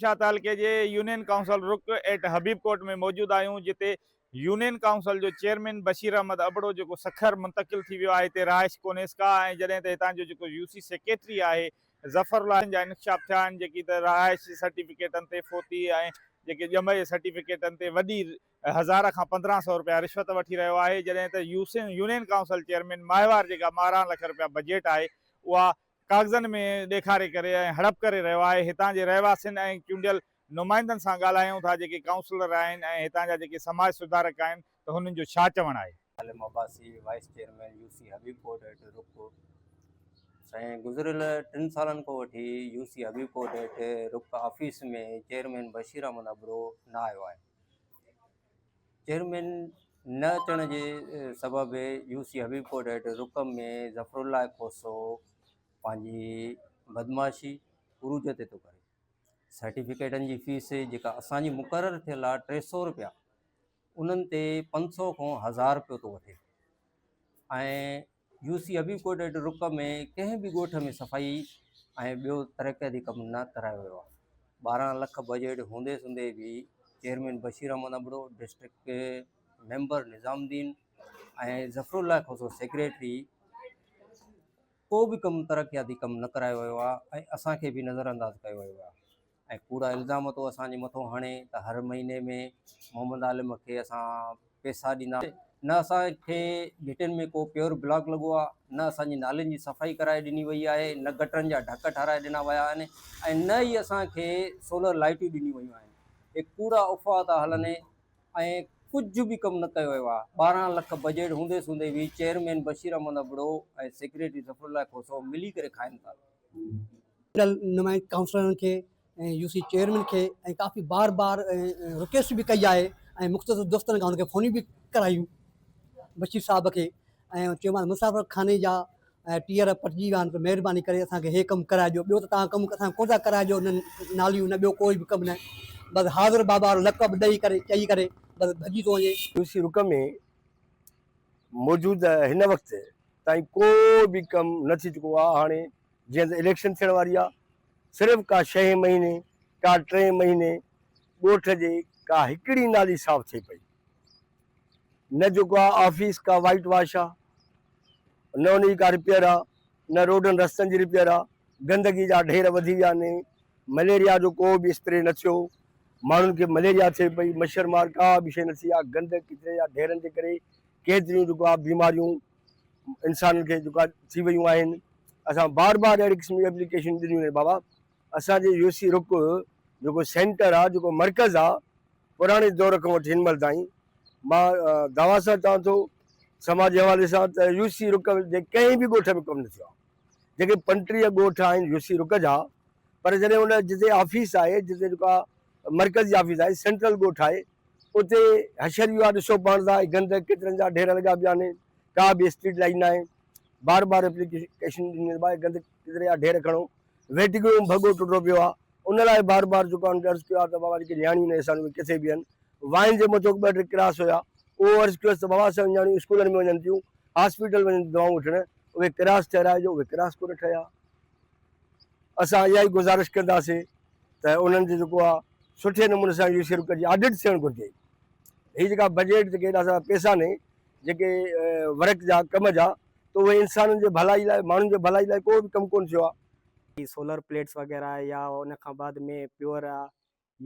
شاهه تعلقي جي union council Ruk at Habib Kot ۾ موجود آهيون جتي يونين ڪائونسل جو چيئرمين بشير احمد ابڙو جيڪو سکر منتقل ٿي ويو آهي هتي رهائش ڪونهيس ڪا ۽ جڏهن ته هتان جو جيڪو يو سي سيڪريٽري آهي ظفر الله جن جا انڪشاف ٿيا آهن جيڪي ته رهائش جي سرٽيفڪيٽن تي فوتي ۽ جيڪي ڄم جي سرٽيفڪيٽن تي وڏي هزار کان پندرهن سئو رپيا رشوت وٺي رهيو آهي جڏهن ته يونين ڪائونسل چيئرمين ماهوار جيڪا ٻارهن لک رپيا بجيٽ آهي اها ڪاغذن ۾ ڏيکاري ڪري ۽ هڙپ ڪري رهيو آهي، هتان جي رهواسين ۽ چونڊيل نمائندن سان ڳالهايون ٿا جيڪي ڪائونسلر آهن ۽ هتان جا جيڪي سماج سڌارڪ آهن ته هنن جو ڇا چوڻ آهي. Salim Abbasi, vice chairman U C Habibpur Dahat, رڪ، سائين گذريل ٽن سالن کان وٺي U C Habibpur Dahat, Ruk, office ۾ chairman Bashir Ahmed Abro نه آيو آهي، چيئرمين نه اچڻ جي سبب يو سي حبيب ڪوٽ هيٺ رڪم ۾ ظفر الله کوسو پنهنجي بدمعاشي عروج تي ٿو ڪري سرٽيفڪيٽن جي فيس جيڪا اسانجي مقرر ٿيل آهي ٽي سو روپيا انهن تي پنج سو کان هزار روپيو ٿو وٺي يو سي حبيب ڪوٽ ۽ رڪ ۾ ڪنهن به ڳوٺ ۾ صفائي ۽ ٻيو ترقياتي ڪم نه ڪرايو ويو آهي ٻارهن لک بجيٽ هوندي سوندي به chairman Bashir Ahmed Abro district member Nizamuddin ۽ Zafarullah Khoso secretary ڪو به ڪم ترقياتي ڪم نه ڪرايو ويو آهي ۽ اسان کي به نظر انداز ڪيو ويو آهي ۽ ڪوڙا الزام تو اسان جي مٿو هڻي ته هر مهيني ۾ محمد عالم کي اسان پيسا ڏيندا. نه اسان کي گهٽين ۾ ڪو پيور بلاڪ لڳو آهي، نه اسان جي نالين جي صفائي ڪرائي ڏني وئي آهي، نه گٽرن جا ڍڪ ٺاهرائي ڏنا ويا آهن ۽ نه ئي اسان کي سولر لائيٽون ڏنيون ويون آهن. هي ڪوڙا افواهه ٿا هلن ۽ ڪجهه به ڪم نه ڪيو ويو آهي. ٻارهن لک بجيٽ هوندي سوندي به چيئرمين بشير احمد ابڙو ۽ سيڪريٽري ظفرالله کوسو ملي ڪري کائن ٿا. ٽل نمائندي ڪائونسلرن کي ۽ يو سي چيئرمين کي ۽ ڪافي بار بار رڪويسٽ به ڪئي آهي ۽ مختصر دوستن کان ان کي فونيون به ڪرايون بشير صاحب کي ۽ چيومانس مسافر خاني جا ٽيئر پٽجي ويا آهن ته مهرباني ڪري اسانکي هي ڪم ڪرائي ڏيو ٻيو ته تان ڪم اسان ڪو ٿا ڪرائي ڏيو نه ناليون نه ٻيو ڪوئي به ڪم نه بس حاضر بابا وارو لقب ڏئي ڪري چئي ڪري بس ڀڄي ٿو وڃي يو سي رڪ ۾ موجوده هن وقت تائين ڪو به ڪم نه ٿي چڪو آهي هاڻي جيئن ته اليڪشن ٿيڻ واري آ صرف ڪا شهين مهيني ڪا ٽين مهيني ڳوٺ جي ڪا هڪڙي نالي صاف ٿئي پئي نه جيڪو آ آفيس ڪا وائيٽ واش آ نه ان جي ڪا رپيئر آ نه روڊن رستن جي رپيئر آ گندگي جا ڍير وڌي ويا ني مليريا جو ڪو به اسپري نه ٿيو ماڻهن کي مليريا ٿئي پئي مڇر مار ڪا به شي نه ٿي آ گند ڪچري جا ڍيرن جي ڪري ڪيتريون جيڪو آ بيماريون انسانن کي جيڪا ٿي ويون آهن اسان بار بار اهڙي قسم جي ايپليڪيشن ڏنيون آهن بابا اسان جي يو سي رڪ جيڪو سينٽر آهي جيڪو مرڪز آهي پراڻي دور کان وٺي هن مهل تائين مان دعويٰ سان چوان ٿو سماجي حوالي سان ته يو سي رڪ جي ڪنهن به ڳوٺ ۾ ڪم نه ٿيو آهي جيڪي پنٽيهه ڳوٺ آهن يو سي رڪ جا پر جڏهن ان جتي آفيس آهي جتي جيڪا مرڪز جي آفيس آهي سينٽرل ڳوٺ آهي اتي حشر ويو آهي ڏسو پاڻ سان گند ڪچرن جا ڍير لڳا پيا آهن ڪا به اسٽريٽ لائيٽ نه آهي بار بار اپليڪيشن ڏني ته گند ڪچري جا ڍير کڻو ويٽنگروم ڀڳو ٽٽو پيو آهي ان لاء بار بار جيڪو آهن عرض ڪيو آهي ته بابا جيڪي نياڻيون آهن سان اهي ڪٿي بيهن وائن جي مٿو ٻه ٽي ڪراس هيا اهو عرض ڪيوس ته بابا اسان نياڻيون اسڪولن ۾ وڃن ٿيون هاسپيٽل وڃن ٿيون دوائون وٺڻ اهي ڪراس ٺهرائجو اهي ڪراس ڪونه ٺهيا اسان اها ئي گذارش ڪنداسين ته انهن جو جيڪو آهي سٺي نموني سان اهو شروع ڪجي آڊٽ ٿيڻ گهرجي هي جيڪا بجيٽ جيڪي هيڏا سارا پيسا ني جيڪي ورڪ جا ڪم جا تو اهي انسانن جي ڀلائي لاء ماڻهن جي ڀلائي لاء ڪو به ڪم ڪون ٿيو آهي. سولر پليٽس وغيره يا ان کان بعد ۾ پيور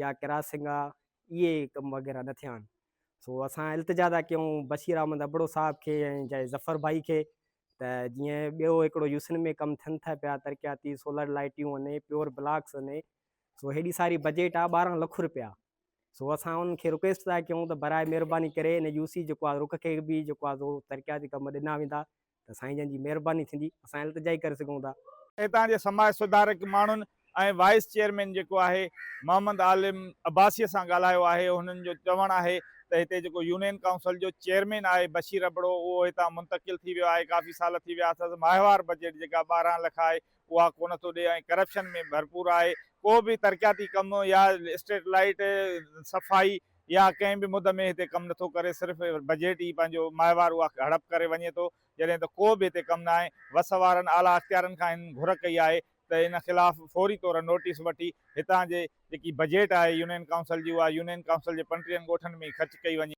يا ڪراسنگ آ اهي ڪم وغيره نه ٿيا آهن سو اسان التجا ٿا ڪيون بشير احمد ابڙو صاحب کي ۽ جاء ظفر ڀائي کي ته جيئن ٻيو هڪڙو يوسن ۾ ڪم ٿين ٿا پيا ترقياتي سولر لائيٽيون اني پيور بلاڪس اني سو هيڏي ساري بجيٽ آ ٻارهن لک روپيا سو اسان انهن کي رڪويسٽ ٿا ڪيون ته براء مهرباني ڪري ان يوسي جيڪو آ رخ کي به جيڪو آ ترقياتي ڪم ڏنا ويندا ته سائين جن جي مهرباني ٿيندي اسان التجائي ڪري سگهون ٿا. هتان جي سماج سڌارڪ ماڻهن ۽ وائيس چيئرمين جيڪو آهي محمد عالم عباسيء سان ڳالهايو آهي هنن جو چوڻ آهي ته هتي جيڪو يونين ڪائونسل جو چيئرمين آهي بشير ابڙو اهو هتان منتقل ٿي ويو آهي ڪافي سال ٿي ويا اٿس ماهوار بجيٽ جيڪا ٻارهن لک آهي اها ڪونه ٿو ڏي ۽ ڪرپشن ۾ ڀرپور آهي ڪو به ترقياتي ڪم يا اسٽريٽ لائيٽ صفائي يا ڪنهن به مد ۾ هتي ڪم نٿو ڪري صرف بجيٽ ئي پنهنجو ماهوار اها هڙپ ڪري وڃي ٿو جڏهن ته ڪو به هتي ڪم نه آهي وس وارن اعليٰ اختيارن کان هن گهر ڪئي آهي ته ان خلاف فوري طور نوٽيس وٺي هتان جي جيڪي بجيٽ آهي يونين ڪائونسل جي اها يونين ڪائونسل جي پنٽيهن ڳوٺن ۾ ئي خرچ ڪئي وڃي.